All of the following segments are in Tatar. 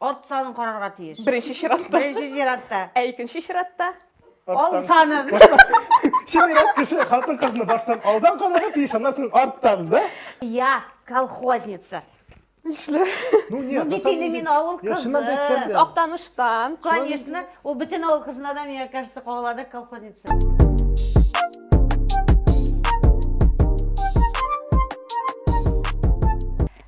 Арт санын карарга тиеш. Беренче чиратта. Беренче чиратта. Ә икенче чиратта? Ал санын. Чынырак кеше хатын кызны баштан алдан карарга тиеш, аннан соң арттан, да? Я колхозница. Нишле? Ну нет, бит инде мин авыл кызы. Чыннан да әйткәндә. Актаныштан. Конечно, ул бөтен авыл кызына да, миңа кажется, кагылады колхозница.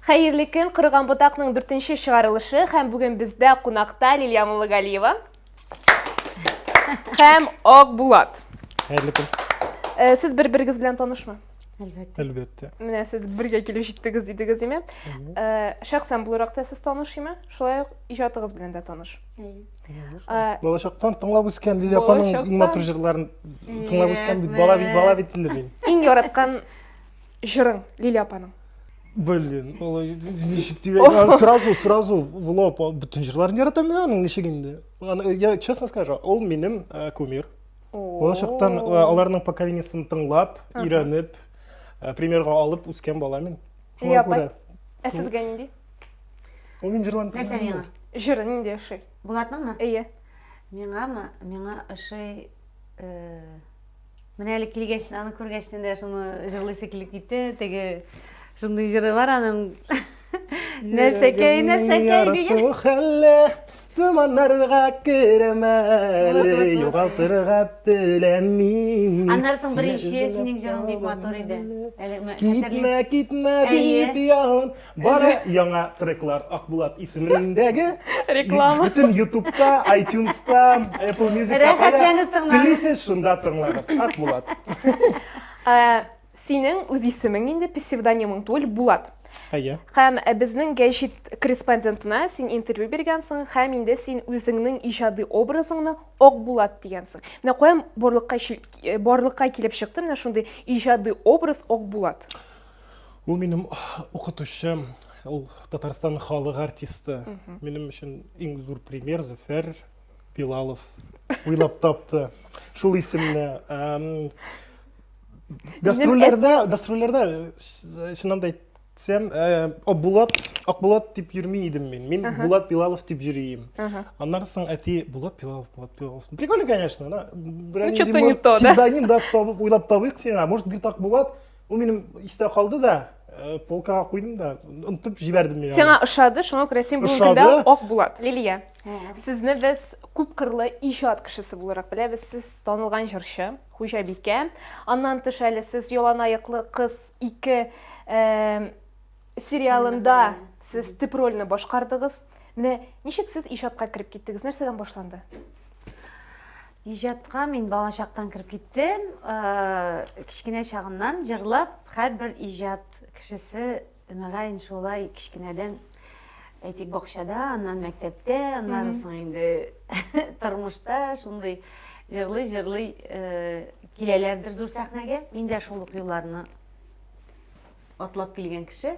Хәерле көн, Корыган ботакның дүртенче чыгарылышы һәм бүген бездә кунакта Лилия Муллагалиева һәм Ак Булат. Хәерле көн. Э, сез бер-берегез белән танышмы? Әлбәттә. Әлбәттә. Менә сез бергә килеп җиттегез дидегез, име? Э, шәхсән буларак та сез таныш име? Шулай ук иҗатыгыз белән дә таныш. Э, Балачактан тыңлап үскән Лилия апаның иң матур җырларын тыңлап үскән бит. Бала бит, бала бит инде мин. Иң яраткан Җырың, Лилия апаның. Блин, алай ничек дигән сразу сразу в лоб бөтен җырларын яратам мин аның ничек инде. Я честно скажу, ул минем э, кумир. Балачактан э, аларның поколениесен тыңлап, өйрәнеп, э, примерга алып үскән бала мин. Шуңа күрә. Ә сезгә нинди? Ул мин җырлан. Нәрсә миңа? Җыры нинди ошый? Булатныңмы? Әйе. Миңамы? Миңа ошый Менә әле килгәч, аны күргәч, дә шуны җырлыйсы килеп китте. Теге шундый җыры бар аның. Нәрсәкәй, нәрсәкәй дигән. Хәлле томаннарга керәмә әле, югалтырга теләмим. Аннан соң беренче синең җырың бик матур иде. Китмә, китмә дип ялын. Бары яңа треклар Акбулат исемендәге Реклама. Бөтен Ютубта, iTunes-та, Apple Music-та Рәхәтләнеп тыңлагыз. телисез, шунда тыңлагыз. Акбулат. Ә, Синең үз исемең инде, псевдонимың түгел, Булат. Әйе. Һәм ә, безнең гәҗит корреспондентына син интервью биргәнсең һәм инде син үзеңнең иҗади образыңны Акбулат дигәнсең. Менә каян барлыкка чил- э, барлыкка килеп чыкты менә шундый иҗади образ Акбулат. Ул минем укытучы, ул Татарстан халык артисты. Минем өчен иң зур пример Зөфәр Билалов уйлап тапты. Шул исемне гастрольләрдә, гастрольләрдә чыннан да әйтсәм, Акбулат, Акбулат дип йөрми идем мин. Мин Булат Билалов дип йөрим. Аннан соң әти Булат Билалов, Булат Билалов. Прикольно, конечно, да. Ну, что-то не то, да? Псевдоним да табып, уйлап табыйк сиңа. Может, бит Акбулат? Ул минем истә калды да, э, полкага куйдым да, онтып җибәрдем мин. Сиңа ошады, шуңа күрә син бүгенге көндә Ошады. Ак Булат. Лилия, сезне без күп кырлы иҗат кешесе буларак беләбез. Сез танылган җырчы, хуҗабикә. Аннан тыш әле сез яланаяклы кыз ике э, Сериалында сез тип рольне башкардыгыз. Менә ничек сез иҗатка кереп киттегез? Нәрсәдән башланды? Иҗатка мин балачактан кереп киттем. Э, кечкенә чагыннан җырлап, һәрбер иҗат кешесе мөгаен шулай кечкенәдән әйтик бакчада, аннан мәктәптә, аннан соң инде тормышта шундый җырлый җырлый э, киләләрдер зур сәхнәгә. Мин дә шул ук юлларны Атлап килгән кеше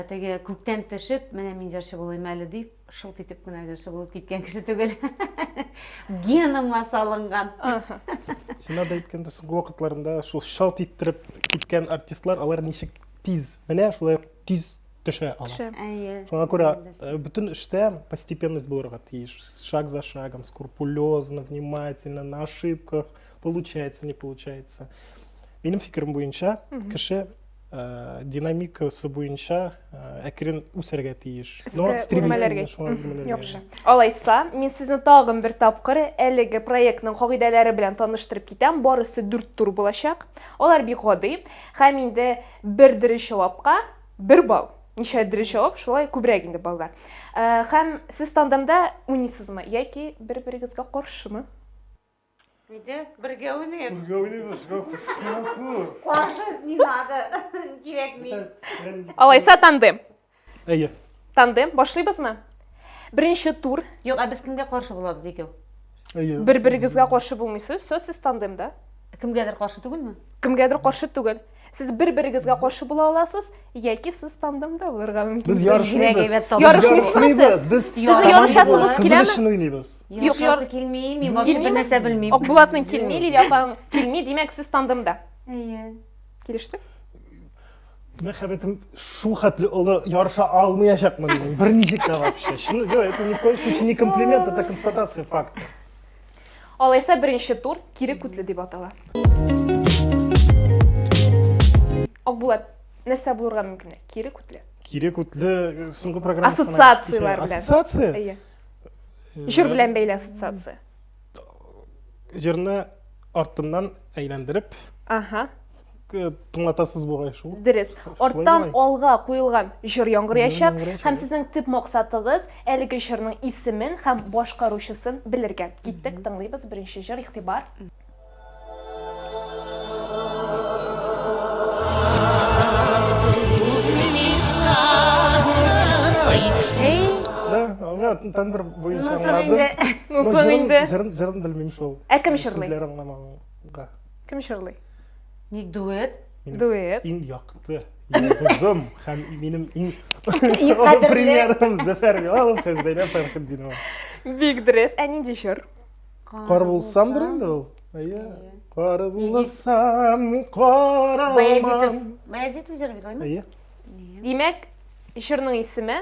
теге күктән төшеп, менә мин җырчы булыйм әле дип, шылт итеп кенә җырчы булып киткән кеше түгел. Геныма салынган. Сина да әйткәндә, соңгы вакытларында шул шалт иттереп киткән артистлар, алар ничек тиз, менә шулай тиз төшә ала. Төшә. Әйе. Шуңа күрә э, бөтен эштә постепенность булырга тиеш. Шаг за шагом, скрупулезно, внимательно, на ошибках, получается не получается минем фикерем буенча кеше э, динамикасы буенча э, әкрен үсәргә тиеш но стремительно шуңа гомеләргә. яхшы алайса мин сезне тагын бер тапкыр әлеге проектның кагыйдәләре белән таныштырып китәм барысы дүрт тур булачак алар бик гади һәм инде бер дөрес җавапка бер балл ничә дөрес җавап шулай күбрәк инде баллар э, һәм сез тандемда уйныйсызмы яки бер берегезгә каршымы Нигә? Бергә уйныйк. Бергә уйныйбыз. Каршык не надо. Кирәкми. Алайса тандем. Әйе. Тандем башлыйбызмы? Беренче тур. Юк, ә без кемгә каршы булабыз икәү? Әйе. Бер-берегезгә каршы булмыйсыз. Все, сез тандемда. Кемгәдер каршы түгелме? Кемгәдер каршы түгел. Сез бер-берегезгә каршы була аласыз, яки сез тандемда булырга мөмкин. Без ярышмыйбыз. Ярышмыйбыз. Без Сезне ярышасыбыз киләме? Кызыл өчен уйныйбыз. Юк, яр... килми, мин вообще бер нәрсә белмим. Акбулатның килми, Лилия апаның килми, димәк, сез тандемда. Әйе. Килештек? Мәхәббәтем шул хәтле олы ярыша алмаячакмын мин. Берничек тә вообще. Чын, это ни в коем случае не комплимент, это констатация факта. Алайса беренче тур кире күтле дип атала. Акбулат, нәрсә булырга мөмкин? Кире күтле. Кире күтле э, соңгы программа Ассоциацияләр белән. Ассоциация? Әйе. Э, Җыр белән бәйле ассоциация. Җырны артыннан әйләндереп. Ага. тыңлатасыз бугай шул дөрес арттан алга куелган җыр яңгыраячак һәм сезнең төп максатыгыз әлеге җырның исемен һәм башкаручысын белергә киттек тыңлыйбыз беренче җыр игътибар тендер буенча аңладым. Җырын белмим шул. Ә кем җырлый? Сүзләр аңламаганга. Кем җырлый? Ник дуэт? Дуэт. Иң якты йолдызым һәм минем иң премьерым Зөфәр Билалов һәм Зәйнәб Фәрхетдинова. Бик дөрес. Ә нинди җыр? Кар булсамдыр инде ул. Әйе. Кар булсам, каралмам. Баязитов җыр бит, әйеме? Әйе. Димәк, җырның исеме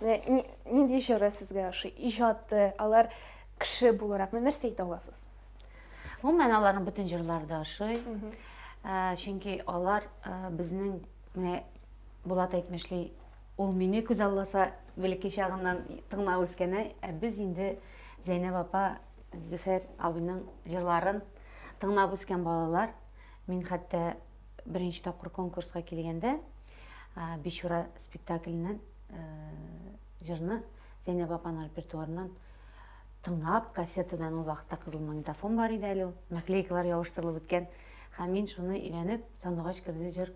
Нинди җыры сезгә ошый? Иҗаты, алар кеше буларак нәрсә әйтә аласыз? Гомумән аларның бөтен җырлары да ошый. Ә, чөнки алар ә, безнең менә Булат әйтмешли, ул мине күз алласа бәлки чагыннан тыңлап үскәне, ә без инде Зәйнәб апа, Зөфәр абыйның җырларын тыңлап үскән балалар. Мин хәтта беренче тапкыр конкурска килгәндә, Бичура спектакленнән җырны Зәйнәб апаның репертуарыннан тыңлап, кассетадан ул вакытта кызыл магнитофон бар иде әле ул, наклейкалар ябыштырылып беткән. Һәм мин шуны өйрәнеп, Сандугач керде җыр,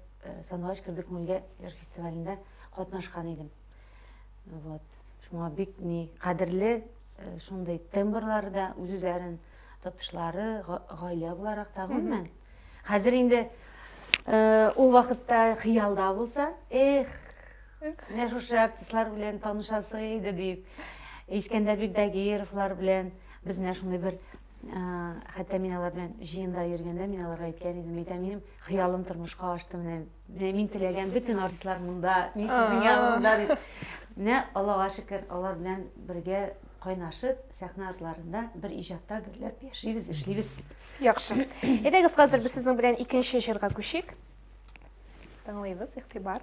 Сандугач керде күңелгә җыр фестивалендә катнашкан идем. Вот. Шуңа бик ни кадерле шундый тембрларда үз-үзләрен Татышлары, гаилә буларак та, гомумән. Хәзер инде ул вакытта хыялда булса, эх, менә шушы артистлар белән танышасы иде дип, Искәндәр Бигдагировлар белән без менә шундый бер хәтта мин алар белән җыенда йөргәндә мин аларга әйткән идем, әйтәм, минем хыялым тормышка ашты менә Менә мин теләгән бөтен артистлар монда, мин сезнең янында дип. Менә Аллага шөкер, алар белән бергә кайнашып, сәхнә артларында бер иҗатта гөрләп яшибез, эшлибез. Яхшы. Әйдәгез, хәзер без сезнең белән икенче җырга күчик. Тыңлыйбыз, игътибар.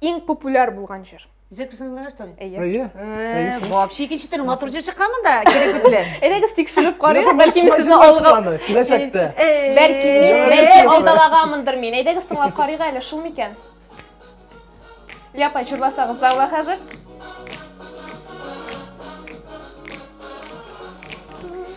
Иң популяр булган җыр. Джексон Мрэ, что ли? Әйе. Әйе. Э, Вообще икенче төрле матур җыр чыккан монда, кирәк бетле. Әйдәгез тикшереп карыйк, бәлки мин сезне алга. Киләчәктә. Бәлки мин, бәлки алдалаганмындыр мин. Әйдәгез тыңлап карыйк әле, шул микән? Ляпай чурласагыз залга хәзер.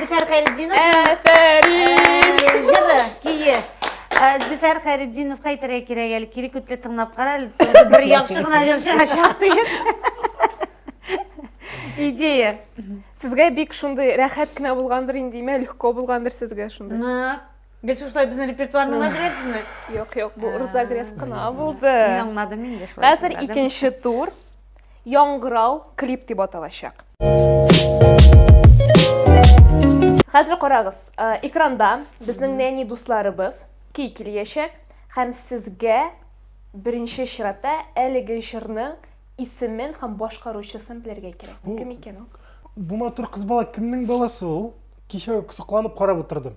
Зөфәр Хәйретдинов. Әфәрин! Э, Җыры, көе. Э, Зөфәр Хәйретдиновка әйтергә кирәк әле, кире күтле тыңлап кара, әле тоже бер яхшы гына җырчыга чак диген. Идея. Сезгә бик шундый рәхәт кенә булгандыр инде, имә легко булгандыр сезгә шундый. Нык. Гел шушылай безнең репертуарны гына беләсезме? Юк, юк, бу Рзагрев кына булды. Мин аңладым инде шулай. Хәзер булгандыр. икенче тур. Яңгырау клип дип аталачак. Хәзер карагыз, э, экранда безнең нәни дусларыбыз көй килгәчәк һәм сезгә беренче чиратта әлеге җырның исемен һәм башкаручысын белергә кирәк. Бу, Кем икән ул? Бу матур кыз бала кемнең баласы ул? Кичә сокланып карап утырдым.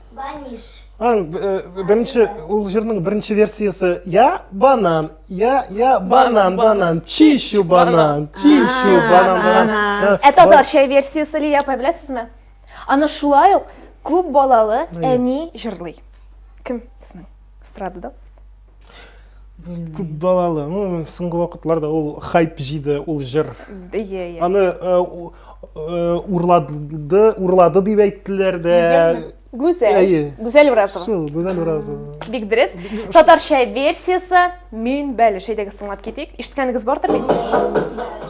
Баниш. Аң, э, беренче, ул җырның беренче версиясы. Я банан, я, я банан, банан, чищу банан, чищу банан, банан. Ә э, татарча версиясе ли япай беләсезме? Аны шулай ук күп балалы әни җырлый. Кем? Эстрадада. белмим күп балалы ну соңгы вакытларда ул хайп җыйды ул җыр иә иә аны э, у- э, урлады урлады дип әйттеләр дә Гүзәл. Әйе. Гүзәл Уразова. шул гүзәл уразова Бик дөрес. Татарча версиясе мин бәле шәйдәгез тыңлап китик. Ишеткәнегез бардыр бит?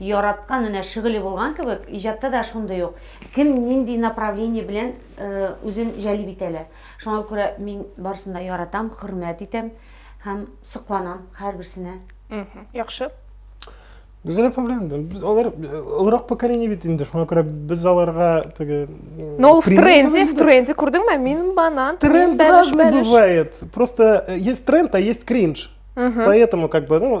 Яраткан, менә шөгыле булган кебек, иҗатта да шундый ук, кем нинди направление белән үзен җәлеп итә лә. Шуңа күрә мин барысын да яратам, хөрмәт итәм һәм сокланам һәрберсенә. Яхшы. Гүзәл апа белән без алар олырак поколение бит инде, шуңа күрә без аларга теге Но в тренде, в тренде күрдеңме? Мин банан. Тренд разный бывает. Просто есть тренд, а есть кринж. Поэтому как бы, ну,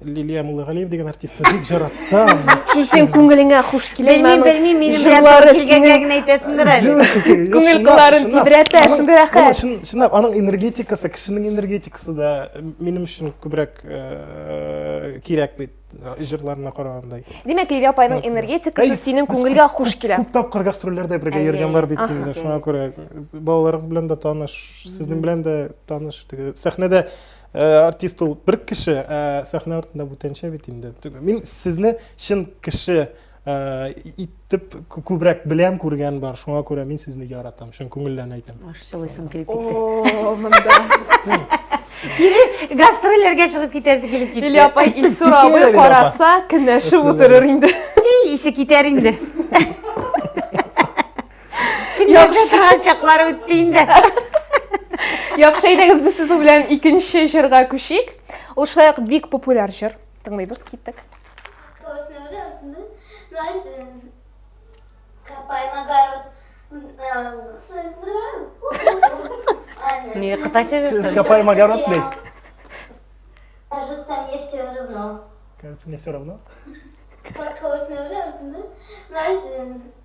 Лилия Муллыгалиев дигән артистны бик жараттым. Синең күңелеңә хуш килә. Белмим, белмим, минем белән килгәнгә генә әйтәсендер әле. Күңел кылларын тибрәтә, шундый рәхәт. Шын, чынлап аның энергетикасы, кешенең энергетикасы да минем өчен күбрәк э, кирәк бит э, җырларына караганда. Димәк, Лилия апайның энергетикасы синең күңелгә хуш килә. Күп тапкыр гастрольләрдә бергә йөргән бар бит инде, шуңа күрә балаларыгыз белән дә таныш, сезнең белән дә таныш. Сәхнәдә Э, артист ул бер кеше ә сәхнә артында бүтәнчә бит инде мин сезне чын кеше э, итеп күбрәк беләм күргән бар шуңа күрә мин сезне яратам чын күңелдән әйтәм жылыйсың килеп китте кире гастрольләргә чыгып китәсе килеп китте или апай илсур абый караса кенәшеп утырыр инде исе китәр инде Яхшы торган чаклар үтте инде. Яхшы әйдәгез без сезнең белән икенче җырга күчик. Ул шулай ук бик популяр җыр. Тыңлыйбыз, киттек. Не, катайся. Копай огород, блядь. Кажется, мне все равно. Кажется, мне все равно. Как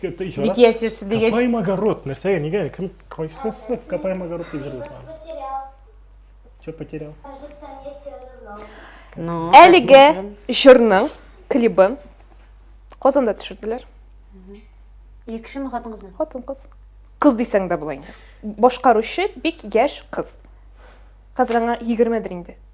Бит яшерсе дигәч. Капаем огород. Нәрсәгә, нигә? Кем кайсысы капаем огород дип җырлый Что потерял? Ну, Әлеге җырның клибын Казанда төшерделәр. Ир кешеме, хатын кызмы? Хатын кыз. Кыз дисәң дә була инде. Башкаручы бик яшь кыз. Хәзер аңа 20 дер инде.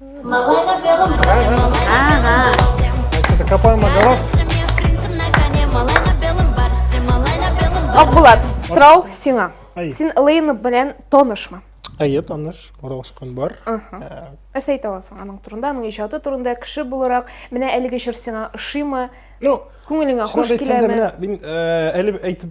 Малай на белом коне, малай на белом барсе. Это копаем огород. Акбулат, сорау сиңа. Син Элейна белән танышмы? Әйе, таныш, аралашкан бар. Нәрсә әйтә аласың аның турында, аның иҗаты турында, кеше буларак, менә әлеге җыр сиңа ошыймы? Ну, күңелеңә хуш киләме? Мин әле әйтеп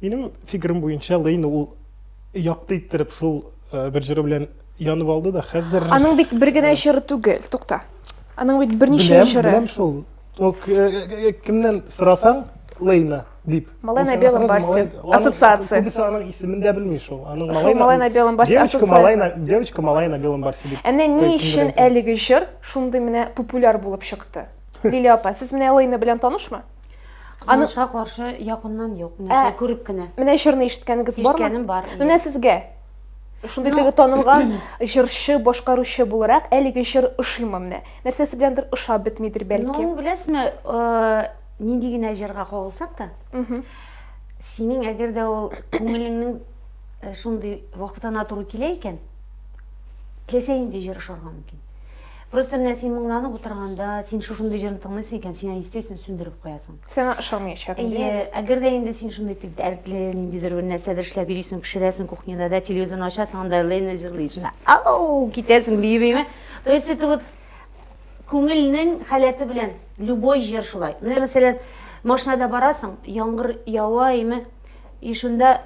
Минем фикерем буенча Лейн ул якты иттереп шул э, бер җыры белән янып алды да хәзер Аның бит бер генә җыры түгел, тукта. Аның бит берничә беләм, җыры. беләм шул. О, к- э, э, э, Кемнән сорасаң, Лейна дип. Малай на Ул белом сразу барсе. малай- аның- Ассоциация. Күбесе аның исемен дә белми шул. Аның Шул малай на белом барсе Девочка ассоциация. малай на девочка малай на белом барсе дип. Ә менә ни Кемдер өчен әйтә. әлеге җыр шундый менә популяр булып чыкты? Лилия апа, сез менә Лейна белән танышмы? Кызганычка каршы якыннан юк. Менә ә, шулай күреп кенә. Менә җырны ишеткәнегез бармы? Ишеткәнем бар. Менә сезгә шундый теге танылган җырчы, башкаручы буларак әлеге җыр ошыймы менә? Нәрсәсе беләндер ошап бетмидер бәлки. Ну, беләсезме, э, нинди генә җырга кагылсак та, синең әгәр дә ул күңелеңнең э, шундый вакытына туры килә икән, теләсә нинди җыр ошарга мөмкин. Просто менә син моңланып утырганда, син шушындый җырны тыңлыйсың икән, син аны естественно сүндереп куясың. Сиңа ошамыячак инде. Әйе, әгәр дә инде син шундый тик дәртле, ниндидер бер нәрсәдер эшләп йөрисең, пешерәсең кухняда, да, телевизорны ачасың, анда Лена җырлый, шунда ау, китәсең бии-бииме. То есть это вот күңелнең халәте белән любой җыр шулай. Менә мәсәлән, машинада барасың, яңгыр ява име, и шунда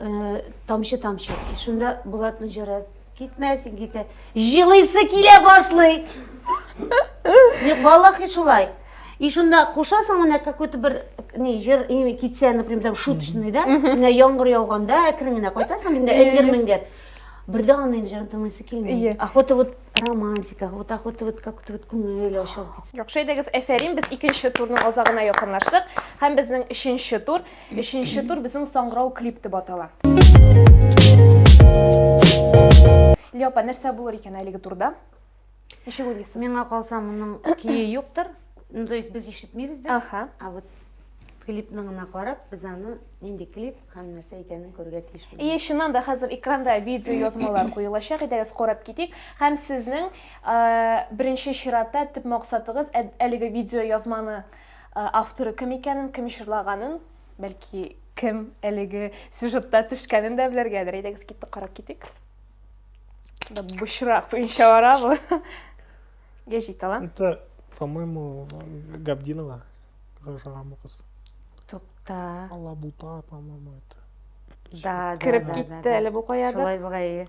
э, тамчы тамчы, и шунда Булатның җыры Китмәсен китә. Җылыйсы килә башлый. Юк, валлахи шулай. И шунда кушасың менә какой-то бер не җыр китсә, например, там шуточный, да? Менә яңгыр яуганда әкрен генә кайтасың, инде эңгер меңгер. Бердә аны инде җыр тыңлыйсы килми. Охота вот романтика, вот охота вот как-то вот күңел ачылып китсен. Яхшы идегез, әфәрин, без икенче турның азагына якынлаштык һәм безнең өченче тур. Бишенче тур безнең саңгырау клип дип атала. Лия апа, нәрсә булыр икән әлеге турда? Ничек уйлыйсыз? Миңа калса, моның көе юктыр. Ну, то есть без ишетмибез дә. Аха. А вот клипның гына карап, без аны нинди клип һәм нәрсә икәнен күрергә тиеш. И чыннан да хәзер экранда видео язмалар куелачак, әйдәгез карап китик. Һәм сезнең беренче чиратта төп максатыгыз әлеге видео язманы Э, авторы кем икәнен, кем җырлаганын, бәлки кем әлеге сюжетта төшкәнен дә белергәдер. Әйдәгез китте карап китик. Да бушра буенча барабы? Гәҗит талант. Это, по-моему, Габдинова. Гажаган бу кыз. Тукта. Алабута, по-моему, это. Да, да, да, да. Кереп китте әле бу кая да. Шулай бугай.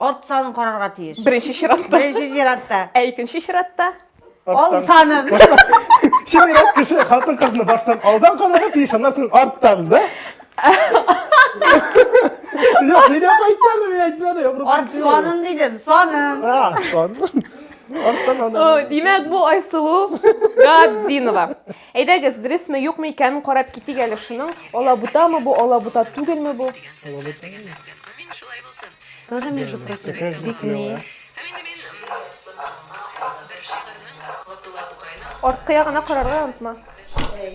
Ат санын карарга тиеш. Беренче чиратта. Беренче чиратта. Ә икенче чиратта? Ал санын. Чират кеше хатын кызны баштан алдан карарга тиеш, аннан соң арттан, да? Юк, мин ап әйтмәдем, мин әйтмәдем. я просто Ат әйтмәдем. санын дидем, санын. А, сон. Арттан О, аннан. Димәк, бу Айсылу Габдинова. Әйдәгез, дөресме, юкмы икәнен карап китик әле шуның. Алабутамы бу, алабута түгелме бу? Тоже, между прочим, бик не. Арткы ягына карарга онытма.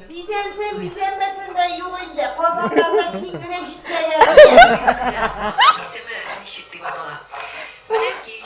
Бизәнсен, бизәнмәсен дә юк инде. Казаннарда син генә җитмәгән. Исеме ничек дип атала? Менә кич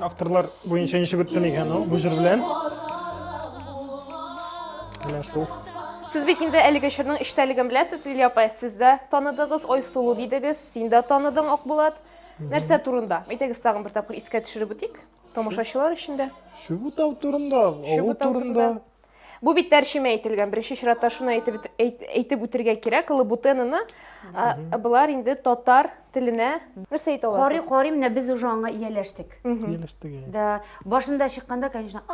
Авторлар буенча ничек үтте микән ул? Бу җыр белән. Менә шул. Сез бит инде әлеге чорның эчтәлеген беләсез, Лилия апа. Сез дә таныдыгыз, Айсылу дидегез, син дә таныдың, Акбулат. Нәрсә турында? Әйтегез тагын бер тапкыр искә төшереп үтик, тамашачылар өчен дә. Чүбутау турында, авыл Чүбутау турында. Бу бит тәрҗемә ителгән. Беренче чиратта шуны әйтеп әйтеп үтергә кирәк. Лабутенаны болар инде татар теленә нәрсә әйтә аласыз? Карый карый менә без уже аңа ияләштек. Ияләштек. Да, башында чыкканда, конечно,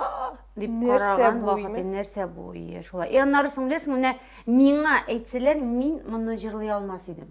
дип караган вакыты нәрсә бу ие шулай. И аннары соң беләсең, менә миңа әйтсәләр, мин моны җырлый алмас идем.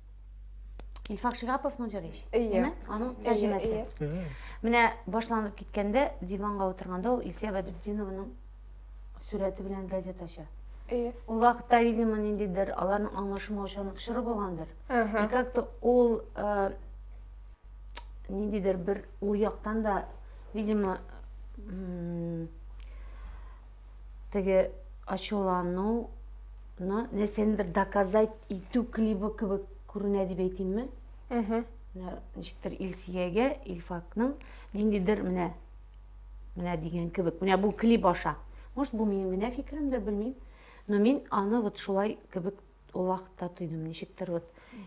Илфак Шигапов Нуҗариш. Әйе. Аның тәрҗемәсе. Менә башланып киткәндә диванга утырганда ул Илсия Бәдретдинованың сүрәте белән газета ача. Әйе. Ул вакытта, видимо, ниндидер аларның аңлашылмаучанлык чоры булгандыр. И как-то ул э, ниндидер бер ул яктан да, видимо, Теге ачулану ны нәрсәнедер доказать итү клибы кебек күренә дип әйтимме? Әһә. Менә ничектер Илсиягә Илфакның ниндидер менә менә дигән кебек. Менә бу клип аша. Может, бу минем генә фикеремдер, белмим. Но мин аны вот шулай кебек ул вакытта тойдым. Ничектер вот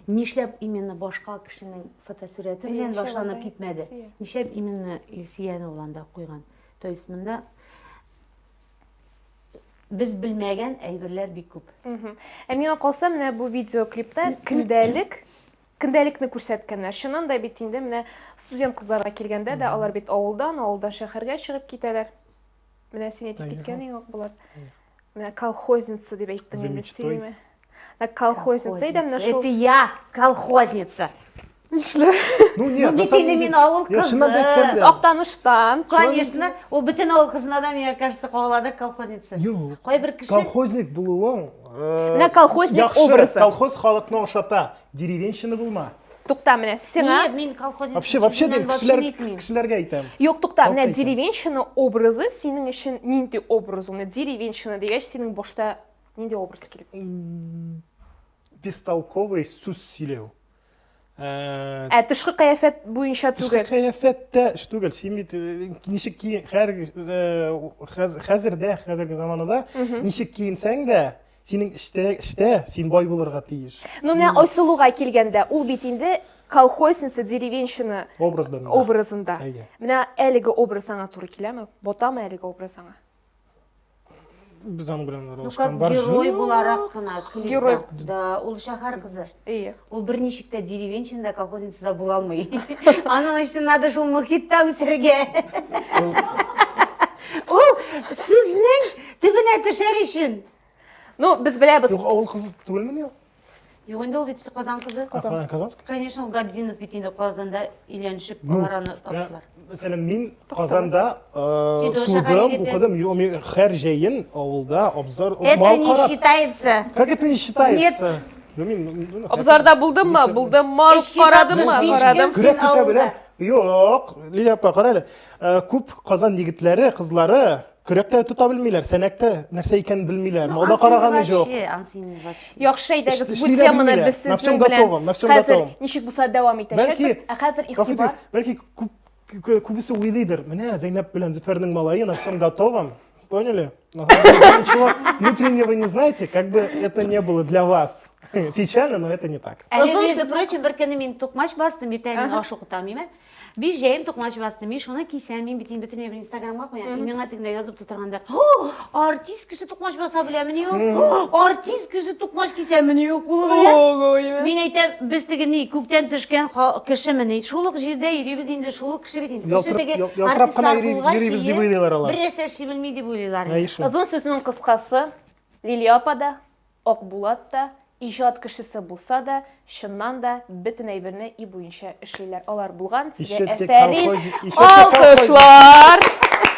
нишләп именно башка кешенең фотосурәте белән башланып китмәде? Нишләп именно Илсияне ул анда куйган? То есть монда без белмәгән әйберләр бик күп. Ә миңа калса, менә бу видеоклипта көндәлек көндәлекне күрсәткәннәр. Чыннан да бит инде менә студент кызларга килгәндә дә алар бит авылдан, авылдан шәһәргә чыгып китәләр. Менә син әйтеп киткән иң ук булат. Менә колхозница дип әйттең инде сөйлиме? Ә колхозница идем на шул. Это я, колхозница. Нишле? Ну нет, ну, бит мин авыл кызы. Сез Актаныштан. Конечно, ул бөтен авыл кызына да миңа кажется кагылады колхозница. Юк. Кайбер кеше колхозник булуың. Менә колхозник образы. Колхоз халыкны ошата. Деревенщина булма. Тукта, менә сиңа. Нет, мин колхозник. Вообще, вообще дим, кешеләр, кешеләргә әйтәм. Юк, тукта, менә деревенщина образы синең өчен нинди образ? Менә деревенщина дигәч, синең башта нинди образ килеп? Бестолковый сүз сөйләү. Ә, ә тышкы кыяфәт буенча түгел. Тышкы кыяфәт тә эш түгел. Син бит э, ничек ки хәзер э, хәзердә, хәзерге заманада ничек киенсәң дә, Синең эштә, эштә, син бай булырга тиеш. Ну, менә Айсылуга килгәндә, ул бит инде колхозница, деревенщина образында. Менә әлеге образ аңа туры киләме? Ботамы әлеге образ аңа? Без аның белән аралашкан. Герой буларак кына. Герой. Да, ул шәһәр кызы. Әйе. Ул берничек тә деревенщина да, колхозница да була алмый. Аның өчен надо шул мохитта үсәргә. Ул сүзнең төбенә төшәр өчен. Ну, без беләбез. Юк, авыл кызы түгелмени ул? Юк, инде ул бит Казан кызы. Казан. Казанский? Конечно, ул Габдинов бит инде Казанда өйләнешеп, Ну, алар аны таптылар. Мәсәлән, мин Казанда тудым, укыдым, мин һәр җәен авылда абзар Это не считается. Как это не считается? Нет. Ну, мин, ну, ну, Абзарда булдым ма? Булдым ма? Карадым ма? Карадым. Күрә китә беләм. Юк, Лилия апа, кара әле. Күп Казан егетләре, кызлары Көрәктә тота белмиләр, сәнәктә нәрсә икәнен белмиләр. Мода караганы җок. Яхшы әйдәгез, бу теманы без сезнең белән хәзер ничек булса дәвам итәчәкбез. Ә хәзер игътибар. Бәлки күбесе уйлыйдыр. Менә Зәйнәб белән Зөфәрнең малае на всем готовом. Поняли? Ничего внутреннего не знаете, как бы это не было для вас. Печально, но это не так. Әле, между прочим, бер көнне мин тукмач бастым, иртәгә мин аш укытам, Биш җәем токмач басты. Мин шуны кисәм, мин бит инде бөтенләй бер инстаграмга куям. И миңа тегендә язып тутырганда, артист кеше токмач баса беләмени ул? Артист кеше токмач кисәмени ул кулы белән? Мин әйтәм, без теге ни, күктән төшкән ха- кешемени? Шул ук җирдә йөрибез инде, шул ук кеше бит инде. Кеше Ялтырап- теге ял- ялтырап кына артистлар йөри- булгач, йөрибез дип йөри, уйлыйлар алар. Бер нәрсә эшли белми дип уйлыйлар. Әй шул. Озын сүзнең кыскасы, Лилия апа да, Акбулат та, иҗат кешесе булса да, чыннан да бөтен әйберне и буенча эшлиләр алар. Булган сезгә әфәрин! Алкышлар!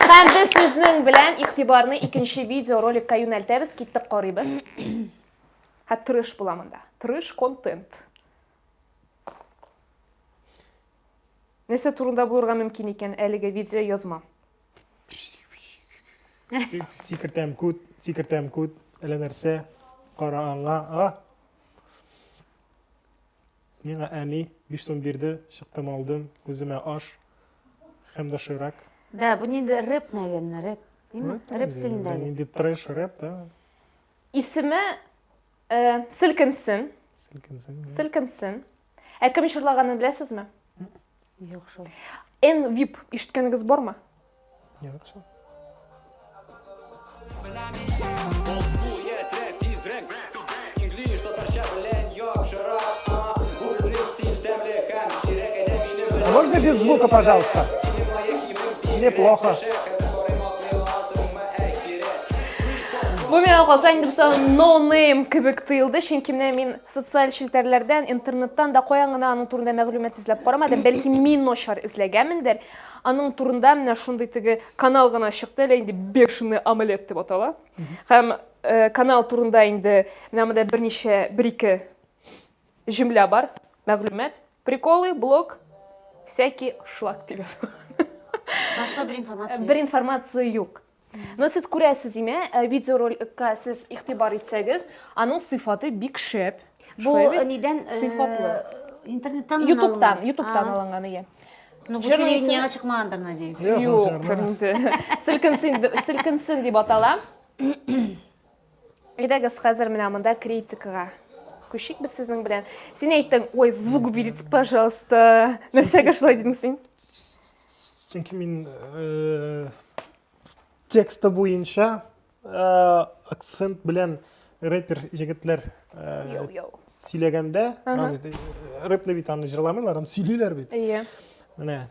Һәм без сезнең белән игътибарны икенче видео роликка юнәлтәбез, киттек карыйбыз. Һә тырыш була монда. Тырыш контент. Нәрсә турында булырга мөмкин икән әлеге видео язма? Сикертәм күт, сикертәм күт, әллә нәрсә, кара аңа, а? Миңа әни биш сум бирде, чыктым алдым, үземә аш һәм доширак. Да, бу нинди рэп, наверное, рэп. Димме? Рэп стилендәге. Нинди трэш рэп, да? Исеме э, Селкенсен. Селкенсен. Селкенсен. Ә кем җырлаганын беләсезме? Юк шул. Эн вип ишеткәнегез бармы? Юк шул. А можно без звука, пожалуйста? Неплохо. Бу миңа калса инде бу ноунейм кебек тоелды, чөнки менә мин Социаль челтәрләрдән, интернеттан да каян гына аның турында мәгълүмат эзләп карамадым. Бәлки мин начар эзләгәнмендер. Аның турында менә шундый теге канал гына чыкты, әле инде бешеный омлет дип атала. Һәм э, канал турында инде менә монда берничә бер-ике җөмлә бар, мәгълүмат. Приколы, блог, всякий шлак дип язылган. Башка бер информация. Бер информация юк. Но сез күрәсез име, э, видеороликка сез игътибар итсәгез, аның сыйфаты бик шәп. Бу э, нидән? Э, сыйфатлы. Интернеттан Ютубтан, Ютубтан алынган, ия. Ну, бу телевидениега чыкмагандыр, надеюсь. Юк, кемдә. Селкенсен, селкенсен дип атала. Әйдәгез, хәзер менә монда критикага күчик без сезнең белән. Син әйттең, ой, звук уберите, пожалуйста. Нәрсәгә шулай дидең син? Чөнки мин э, тексты буенча э, акцент белән рэпер егетләр э, сөйләгәндә, рэпны бит аны җырламыйлар, аны сөйлиләр бит. Иә. Менә,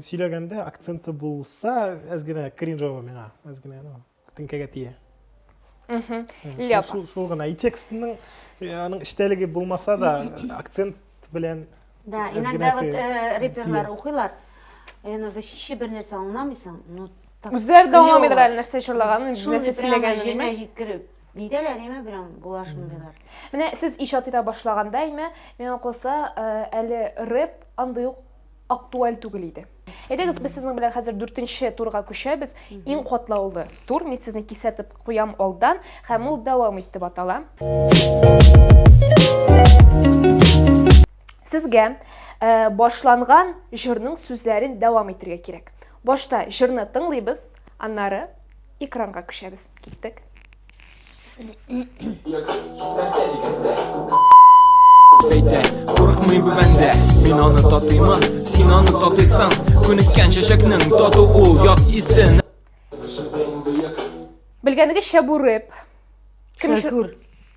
сөйләгәндә акценты булса, әз генә кринжово миңа, әз генә. теңкәгә тия шул шул гына и текстның э, аның эчтәлеге булмаса да акцент белән да иногда вот э, реперлар укыйлар яны вообще бер нәрсә аңламыйсың ну үзләре дә аңламыйдыр әле нәрсә җырлаганын нәрсә сөйләгәнен җиренә җиткереп нидәләр яме белән була шундыйлар менә сез иҗат итә башлаганда яме миңа калса э, әле рэп андый ук актуаль түгел иде Әйдәгез, без сезнең белән хәзер дүртенче турга күчәбез. Иң катлаулы тур, мин сезне кисәтеп куям алдан, һәм ул дәвам итеп атала. Сезгә э, башланган җырның сүзләрен дәвам итергә кирәк. Башта җырны тыңлыйбыз, аннары Экранга күчәбез. Киттек. Бәйтә, курыкмый бу бәндә Мин аны татыймын, син аны татыйсың Күнеккән чәчәкнең тату ул ят исен Белгәнегезчә бу рэп. Кем өчен- Шәкүр.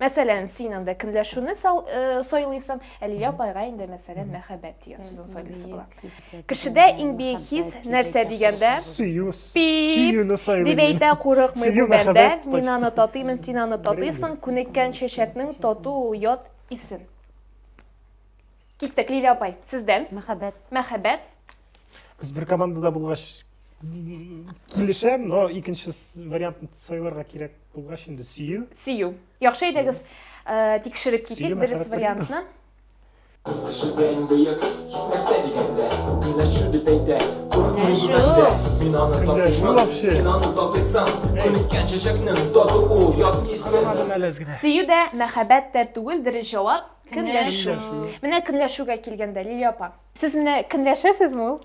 Мәсәлән, син анда көнләшүне сайлыйсың, ә Лилия апайга инде мәсәлән мәхәббәт дигән сүзен сайлыйсы була. Кешедә иң бөек хис нәрсә дигәндә? Сөю. Сөюне сайлыйм. Дип әйтә курыкмый бу бәндә. Мин аны татыймын, син аны татыйсың. Күнеккән чәчәкнең тату ул ят исен. Киттек, Лилия апай, сездән. Мәхәббәт. Мәхәббәт. Без бер командада булгач килешәм, но икенче вариантны сайларга кирәк булгач инде сөю. Сөю. Яхшы әйдәгез, э, тикшереп китик дөрес вариантны. Кешедән бөек нәрсә дигәндә, көнләшү дип әйтә. Күрмәшү. Мин аны татыймын, син аны татыйсың. Күнеккән чәчәкнең таты ул, ят исен. Сөю дә, мәхәббәт тә түгелдер җавап. Көнләшү. Менә көнләшүгә килгәндә, Лилия апа. Сез менә көнләшәсезме ул?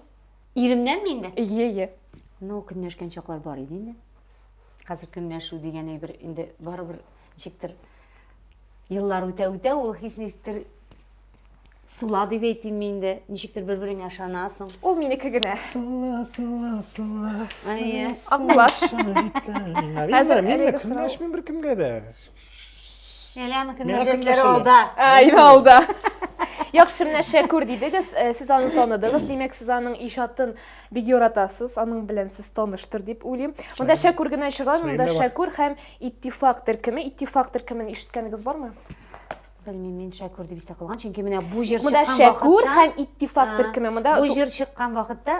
Иремнән мин дә? Ие, ие. Ну, көнләшкән чаклар бар иде инде. Хәзер көнләшү дигән әйбер инде барыбер ничектер еллар үтә-үтә ул хис ничектер сула дип әйтим мин инде. Ничектер бер-береңә ышанасың. Ул минеке генә. Сула, сула, сула. Әйе. Акбаш. Хәзер мин дә көнләшмим беркемгә дә. Әләнең кемнәр җәзләре алда. Әйе, алда. Яхшы менә Шәкүр дидегез, э, сез аны таныдыгыз, димәк, сез аның иҗатын бик яратасыз, аның белән сез таныштыр дип уйлыйм. Монда Шәкүр генә чыга, монда Шәкүр һәм Иттифак төркеме. Иттифак төркемен ишеткәнегез бармы? Белмим, мин Шәкүр дип истә калган, чөнки менә бу җыр чыккан вакытта. Монда Шәкүр һәм Иттифак төркеме. Монда бу җыр чыккан вакытта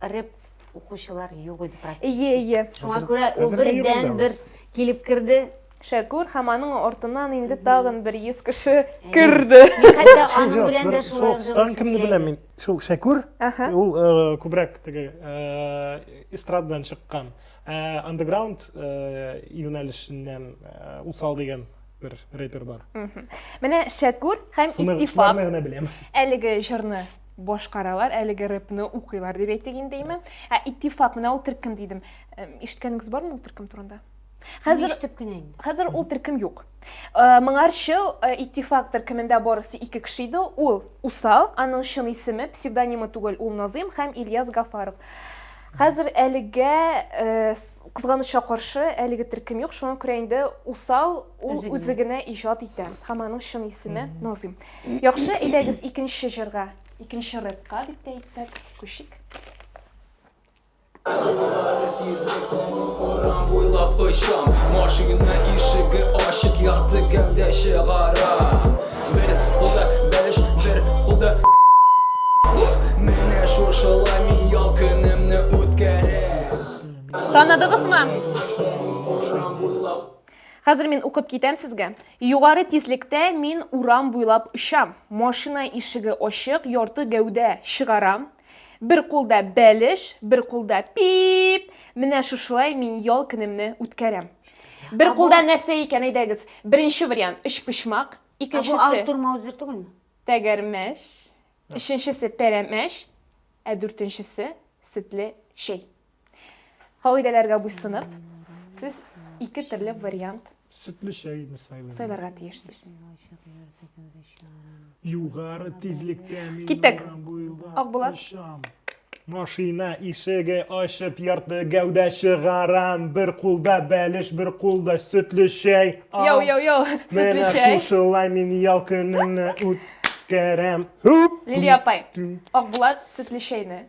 рэп Укучылар юк иде практически. Ие, ие. Шуңа күрә ул бердән бер килеп керде. Шәкүр һәм аның артыннан инде тагын бер 100 кеше керде. Хәтта аның белән дә шулай ук җылы. Кемне беләм мин? Шул Шәкүр. Ул күбрәк теге эстрададан чыккан. Андеграунд юнәлешеннән усал дигән бер репер бар. Менә Шәкүр һәм Иттифак. Әлеге җырны башкаралар, әлеге рэпны укыйлар дип әйтик инде име. Ә Иттифак, менә ул төркем дидем. Ишеткәнегез бармы ул төркем турында? Хәзер ишетеп кенә инде. Хәзер ул төркем юк. Э, моңарчы э, иттифак төркемендә барысы ике кеше иде ул усал аның чын исеме псевдонимы түгел ул назым һәм ильяс гафаров хәзер әлегә э, кызганычка каршы әлеге төркем юк шуңа күрә инде усал ул үзе генә иҗат итә һәм аның чын исеме назым Яхшы, әйдәгез икенче җырга, икенче рэпка дип тә әйтсәк, күчик. Урам буйлап очам, машина ишеге ачык, якты гәүдә чыгарам. Бер кулда бәлеш, бер кулда Менә шушылай мин ял көнемне үткәрәм. Танадыгызмы? Хәзер мин укып китәм сезгә. Югары тизлектә мин урам буйлап очам. Машина ишеге ачык, ярты гәүдә чыгарам. Бер кулда бәлеш, бер кулда пиип! Менә шушылай мин ял көнемне үткәрәм. Бер Ә кулда бу- нәрсә икән, әйдәгез. Беренче вариант, өчпочмак. Ә бу Икенчесе, Артур Маузер түгелме? тәгәрмәч. Өченчесе, пәрәмәч. Ә дүртенчесе, сөтле чәй. Кагыйдәләргә буйсынып, сез ике төрле вариант Сөтле чәйне сайлыйм. сайларга тиешсез. Югары тизлектә мин Киттек. урам буйлап Акбулат. очам. Машина ишеге ачып ярты гәүдә чыгарам. Бер кулда бәлеш, бер кулда сөтле чәй. Ау. Йоу, йоу, йоу, сөтле Менә чәй. шушылай мин ял көнемне үткәрәм. Һүп! Лилия апай, Түм. Акбулат сөтле чәйне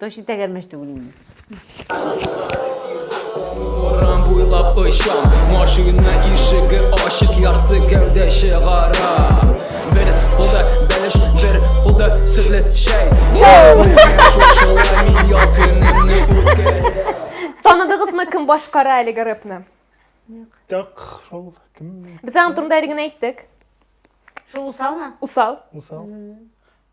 Точно тәгәрмәч түгел инде. Урам буйлап очам, машина ишеге ачык ярты гәүдә чыгара. Бер кулда бәлеш, бер кулда сөтле чәй. Таныдыгызмы кем башкара әлеге рэпны? Так, шул кем? Без аның турында әле генә әйттек. Шул усалмы? Усал. Усал.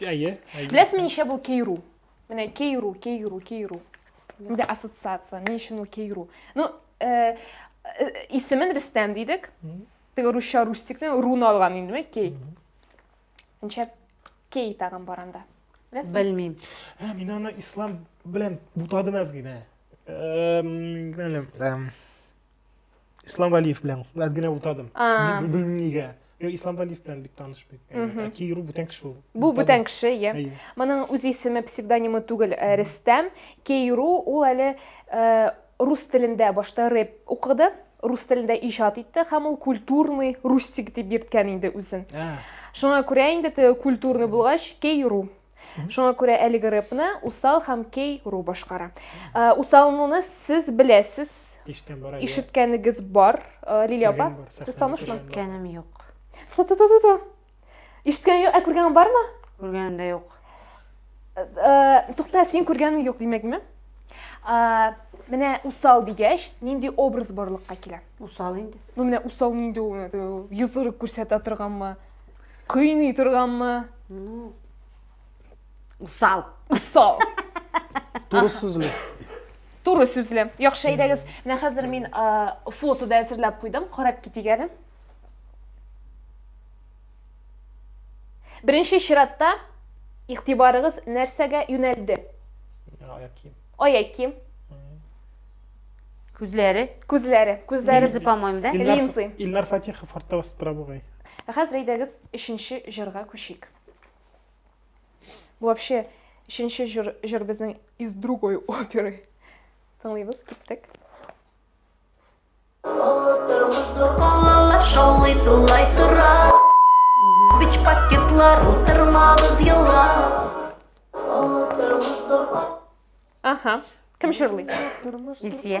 Әйе, әйе. Беләсезме ничә бул кейру? Менә кейру, кейру, кейру. Менә ассоциация, ни өчен ул кейру? Ну, э, э, исемен Рөстәм дидек. Теге русча рустикны руны алган инде, менә кей. Ничә кей тагын бар анда? Беләсезме? Белмим. Ә, мин аны ислам белән бутадым әз генә. Эм, белмим. Эм, Ислам Валиев белән аз генә утадым. Ни белмим нигә. Юк, Ислам Валиев белән бик таныш бит. Ә Киру бүтән кеше ул. Бу бүтән кеше, иә. Моның үз исеме, псевдонимы түгел, э, Рөстәм. Киру ул әле э, рус телендә башта рэп укыды, рус телендә иҗат итте һәм ул культурный рустик дип йөрткән инде үзен. Ә. Шуңа күрә инде теге культурный булгач, Киру. Шуңа күрә әлеге рэпны Усал һәм Кей Ру башкара. Э, Усалнуны сез беләсез, Иштән бара. ишеткәнегез бар. Э, Лилия апа, Күргән бар, сез сәхнәдә танышмы? күргән. Күргәнем юк. Ту-ту-ту-ту-ту. Ишеткәнең юк, ә күргәнең бармы? Күргәнем дә юк. Э, Тукта, син күргәнең юк димәкме? Э, Менә усал дигәч, нинди образ барлыкка килә? Усал инде. Ну, менә усал нинди ул? Йозыры күрсәтә торганмы? Кыйный торганмы? Ну, усал. Усал. Туры сүзле. Туры сүзле. Яхшы әйдәгез. Менә хәзер мин фото да әзерләп куйдым. Карап китик әле. Беренче чиратта игътибарыгыз нәрсәгә юнәлде? Аяк кием. Аяк кием. Күзләре. Күзләре. Күзләре. Линзы, по-моему, да? Линзы. Илнар Фатихов артта басып тора бугай. Ә хәзер әйдәгез өченче җырга күчик. Бу вообще өченче җыр, җыр безнең из другой оперы. Тыңлыйбыз, киттек. Шаулый тулай тора Бич пакетлар утырмабыз йола Ага, кем җырлый? Илсия.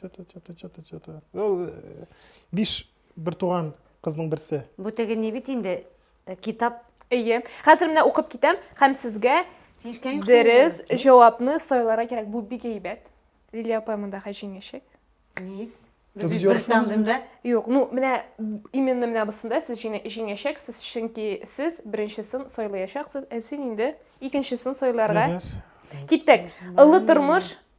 Чата, чата, чата, чата. Ул э, биш бер туган кызның берсе. Бу теге ни бит инде э, китап. Әйе. Хәзер менә укып китәм һәм сезгә дөрес җавапны сайларга кирәк. Бу бик әйбәт. Лилия апа монда хәҗиңәчәк. Ни? Без бер тандемда? Юк, ну менә именно менә бусында сез җиңәчәксез, чөнки сез беренчесен сайлаячаксыз, ә син инде икенчесен сайларга. Киттек. Ылы тормыш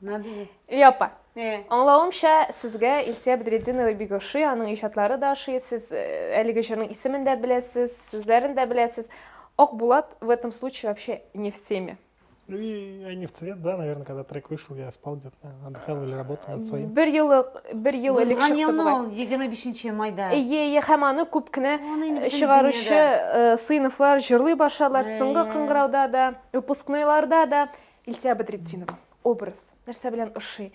Надеюсь. Лилия апа, э. аңлавымча, сезгә Илсия Бедретдинова бик ошый, аның иҗатлары да ошый, сез э, әлеге җырның исемен дә беләсез, сүзләрен дә беләсез. Ак Булат в этом случае вообще не в теме. Ну и я не в цвет, да, наверное, когда трек вышел, я спал где-то, наверное, отдыхал или работал над своим. Бер елы, бер ел элек Узган чыкты елны бугай. ул 25 майда. Эйе, эйе, һәм аны күп кенә Аны инде бөтен чыгаручы дөньяда. э, сыйныфлар җырлый башладылар. Соңгы Әйе. кыңгырауда да, выпускнойларда да Илсә Бәдретдинова, образ, нәрсә белән ошый?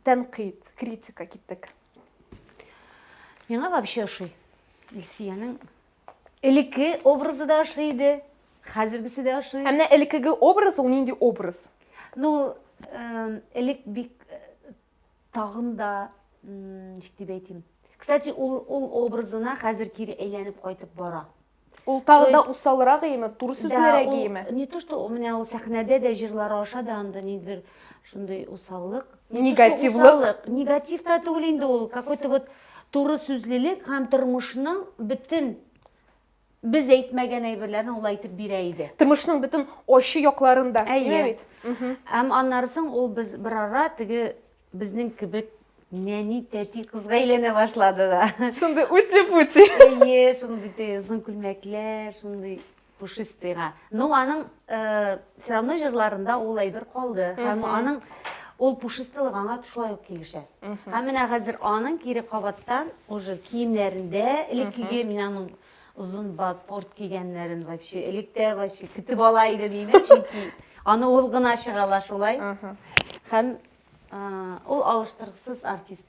Тәнкыйть, критика киттек. Миңа вообще ошый. Илсиянең элекке образы да ошый иде, хәзергесе дә ошый. Ә менә элеккеге образ ул нинди образ? Ну, эм, элек бик э, тагын да ничек дип әйтим кстати ул ул образына хәзер кире әйләнеп кайтып бара Ул тагы да усалрак иеме, туры сүзлерәк да, иеме? Не то, что у меня ул сәхнәдә дә җырлары аша да анда ниндер шундый усаллык. Негативлык. Негатив та түгел инде ул, какой-то вот туры сүзлелек һәм тормышның бөтен Без әйтмәгән әйберләрне ул әйтеп бирә иде. Тормышның бөтен ачы якларын да. Әйе. Һәм аннары соң ул без берара теге безнең кебек нәни тәти кызга әйләнә башлады да. Шундый үти-пути. Әйе, шундый тыйгызын күлмәкләр, шундый пушистыйга. Ну, аның э, Сирамның җырларында ул әйбер калды һәм аның ул пушистылык аңа шулай ук килешә. Һәм менә хәзер аның кире кабаттан уже киемнәрендә элеккеге мин аның озын ботпорт кигәннәрен вообще электә вообще көтеп ала иде мине, чөнки аны ул гына чыга ала шулай. Һәм ул алыштыргысыз артист.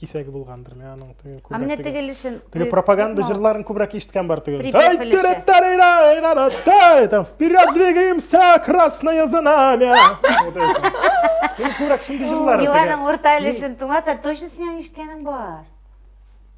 кисәге булгандыр мен аның теге а менә тегелешен теге пропаганда җырларын күбрәк ишеткән бар теге там вперед двигаемся красное знамя күбрәк шундый җырлар юк аның урта өлешен тыңлата точно синең ишеткәнең бар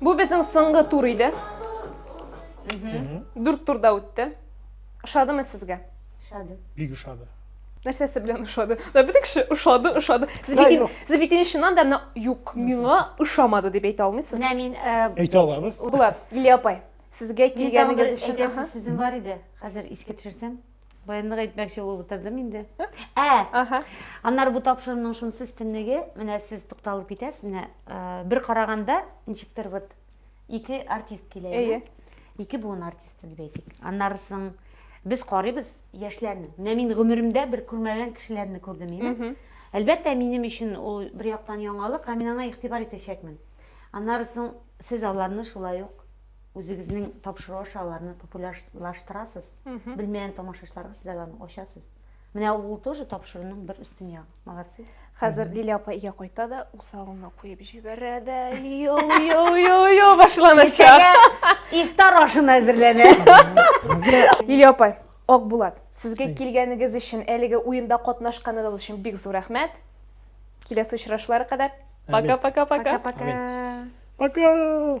Бу безнең соңгы тур иде. Дүрт турда үтте. Ошадымы сезгә? Ошады. Бик ошады. Нәрсәсе белән ошады? Да бөтен кеше ошады, ошады. Сез бит инде, сез бит инде чыннан да юк, миңа ошамады дип әйтә алмыйсыз. Менә мин э, әйтә алабыз. Булат, Лилия апай, сезгә килгәнегез өчен. Әйтәсе сүзем бар иде. Хәзер искә төшерсәм. Баянлык әйтмәкче булып утырдым инде. Ә! Аһа. Аннары бу тапшыруның шунысы өстенлеге, менә сез тукталып китәсез, менә э, бер караганда ничектер вот ике артист килә. Әйе. Ике буын артисты дип әйтик. Аннары соң без карыйбыз яшьләрне. Менә мин гомеремдә бер күрмәгән кешеләрне күрдем инде. Әлбәттә, минем өчен ул бер яктан яңалык, һәм мин аңа игътибар итәчәкмен. Аннары соң сез аларны шулай ук үзегезнең тапшыру аша аларны популярлаштырасыз. Белмәгән тамашачыларга сез аларны ачасыз. Менә ул тоже тапшыруның бер өстен ягы. Молодцы. Хәзер Лилия апа өйгә кайта да, усалына куеп җибәрә дә, йо-йо-йо-йо башланачак. Ифтар ашына әзерләнә. Лилия апа, Акбулат, сезгә килгәнегез өчен, әлеге уенда катнашканыгыз өчен бик зур рәхмәт. Киләсе очрашулар кадәр. Пока-пока-пока. Пока.